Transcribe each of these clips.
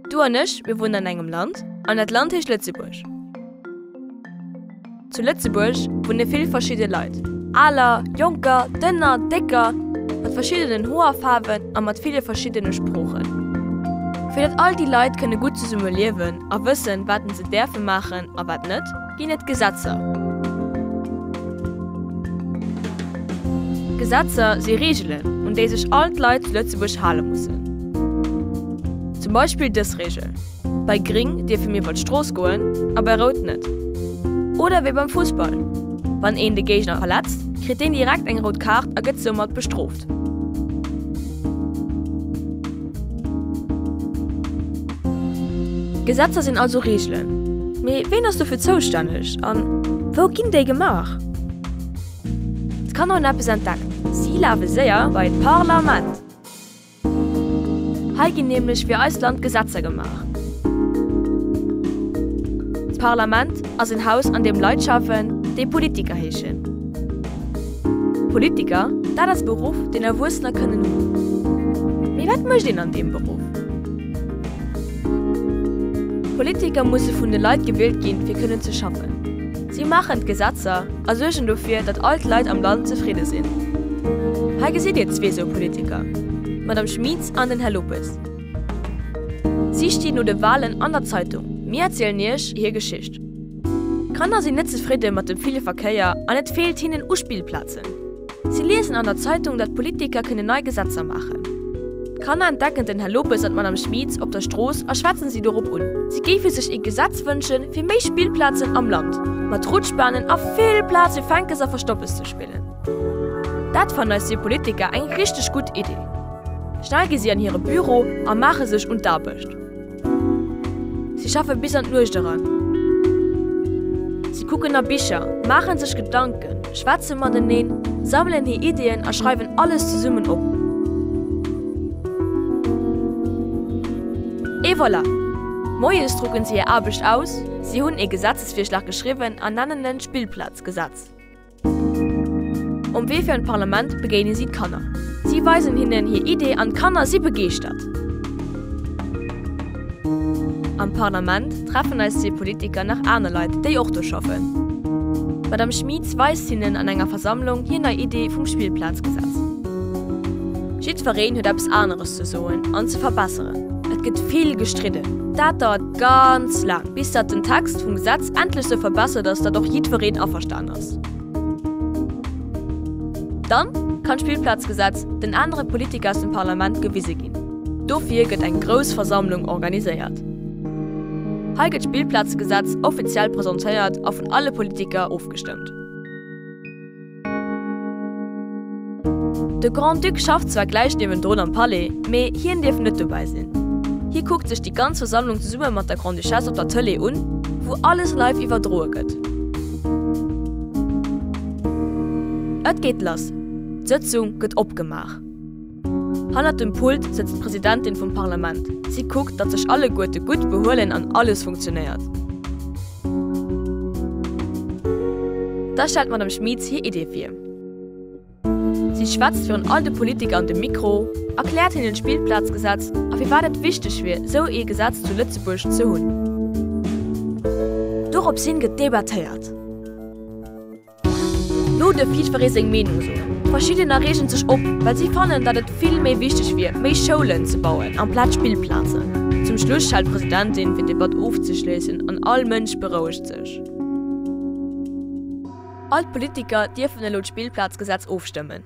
Du an ech, mir wunnen an engem Land an dat Land heescht Lëtzebuerg. Zu Lëtzebuerg wunne vill verschidde Leit, Aler, Jonker, Dënner, Décker, mat verschiddenen Hoerfaarwen a mat ville verschiddene Sproochen. Fir datt all déi Leit kënne gutt zesumme liewen a wëssen, wat en se däerfe maachen a wat net, Ginn et Gesetzer? Gesetzer si Reegelen, un déi sech all d'Leit zu Lëtzebuerg hale mussen. Zum Beispill dës Reegel, Bei Gring dierfe mir iwwer d'Strooss goen a bei Rout net. Oder wéi beim Fussball, Wann een de Géigner verletzt, kritt deen direkt eng rout Kaart a gëtt soumat bestrooft. Gesetzer sinn also Reegelen. Mee ween ass dofir zoustänneg? An wou ginn déi gemaach? D'Kanner hunn eppes entdeckt. Si lafe séier bei d'Parlament. Hei ginn nämlech fir eist Land Gesetzer gemaach. D'Parlament ass en Haus an deem Leit schaffen, déi Politiker heeschen. Politiker, dat ass e Beruff, deen Erwuessener kënnen hunn. Mee wat mécht een an deem Beruff? Politiker musse vun de Leit gewielt ginn, fir kënnen ze schaffen. Si maachen d'Gesetzer a suergen dofir, datt all d'Leit am Land zefridde sinn. Hei gesitt Dir zwee sou Politiker, d'Madame Schmieds an den Här Lopes. Si stinn no de Walen an der Zeitung, mir erzielen Iech hir Geschicht. D'Kanner sinn net zefridde mat dem ville Verkéier an et feelt hinnen u Spillplazen. Si liesen an der Zeitung, datt d'Politiker kënnen nei Gesetzer maachen. D'Kanner entdecken den Här Lopes an d'Madame Schmieds op der Strooss a schwätzen si dorop un. Si géife sech ee Gesetz wënschen, fir méi Spillplazen am Land, mat Rutschbahnen a vill Plaz fir Fänkes a Verstoppes ze spillen. Dat fannen eis zwee Politiker eng richteg gutt Iddi. Schnell gi si an hire Büro a maache sech un d'Aarbecht. Si schaffe bis an d'Nuecht eran. Si kucken a Bicher, maache sech Gedanken, schwätze mateneen, sammelen hir Iddien a schreiwen alles zesummen op. Et voilà! Moies drucken si hir Aarbecht aus, si hunn ee Gesetzesvirschlag geschriwwen an nennen en Spillplazgesetz. Um Wee fir an d'Parlament begéine si d'Kanner. Si weisen hinnen hir Iddie an d'Kanner si begeeschtert. Am Parlament treffen eis zwee Politiker nach aner Leit, déi och do schaffen. D'Madame Schmytz weist hinnen an enger Versammlung hir nei Iddie vum Spillplazgesetz. Jiddwereen huet eppes aneres ze soen an ze verbesseren. Et gëtt vill gestridden. Dat dauert ganz laang, bis datt den Text vum Gesetz endlech sou verbessert ass, datt och jiddwereen averstanen ass. Gemengeschäften ass. Dann kann d'Spillplazgesetz den anere Politiker aus dem Parlament gewise ginn. Dofir gëtt eng grouss Versammlung organiséiert. Hei gëtt d'Spillplazgesetz offiziell presentéiert a vun alle Politiker ofgestëmmt. De Grand-Duc schafft zwar gläich niewendrun am Palais, mee hien dierf net dobäi sinn. Hie kuckt sech déi ganz Versammlung zesumme mat der Grande-Duchesse op der Tëlee un, wou alles live iwwerdroe gëtt. Et geet lass, d'Sëtzung gëtt opgemaach. Hannert dem Pult sëtzt d'Presidentin vum Parlament. Si kuckt, datt sech alleguerte gutt behuelen an alles funktionéiert. Da stellt d'Madame Schmit hir Iddie vir. Si schwätzt virun all de Politiker an de Mikro, erkläert hinnen d'Spillplazgesetz a firwat et wichteg wier, esou ee Gesetz zu Lëtzebuerg ze hunn. Dorops hin gëtt debattéiert. Looss de jiddweree seng Meenung soen. Verschiddener reegen sech op, well si fannen, datt et vill méi wichteg wier, méi Schoulen ze bauen amplaz Spillplazen. Zum Schluss schalt d'Presidentin, fir d'Debatt ofzeschléissen, an all Mënsch berouegt sech. All d'Politiker dierfen elo d'Spillplazgesetz ofstëmmen.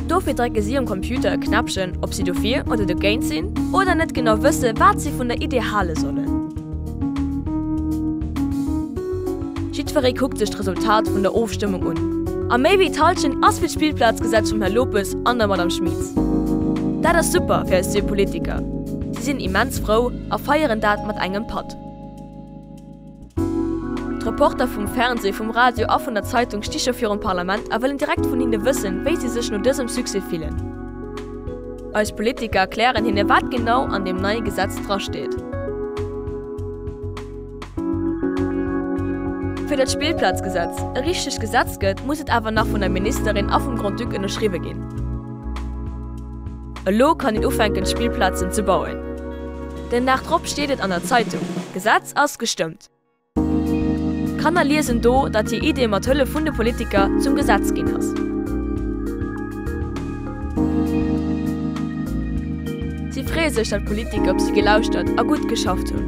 Dofir drécke si um Computer e Knäppchen, ob si dofir oder dogéint sinn, oder net genau wësse wat si vun der Idee hale sollen. Jiddweree kuckt sech d'Resultat vun der Ofstëmmung un, a méi wéi d'Hallschent ass fir d'Spillplazgesetz vum Här Lopes an der Madame Schmit. Dat ass super fir eis zwee Politiker, si sinn immens frou a feieren dat mat engem Patt. D'Reporter vum Fernseh, vum Radio a vun der Zeitung sti scho virum Parlament a wëllen direkt vun hinne wëssen, wéi si sech no dësem Succès fillen. Eis Politiker erklären hinne wat genau an deem neie Gesetz drasteet. Fir datt d'Spillplazgesetz e richtegt Gesetz gëtt, muss et awer nach vun der Ministerin a vum Grand-Duc ënnerschriwwe ginn. Elo kann een ufänken d'Spillplazen ze bauen. Den Dag drop steet et an der Zeitung, Gesetz ass gestëmmt. D'Kanner liesen do, datt hir Idee mat Hëllef vun de Politiker zum Gesetz ginn ass. Si freeë sech, datt d'Politiker op si gelauschtert a gutt geschafft hunn.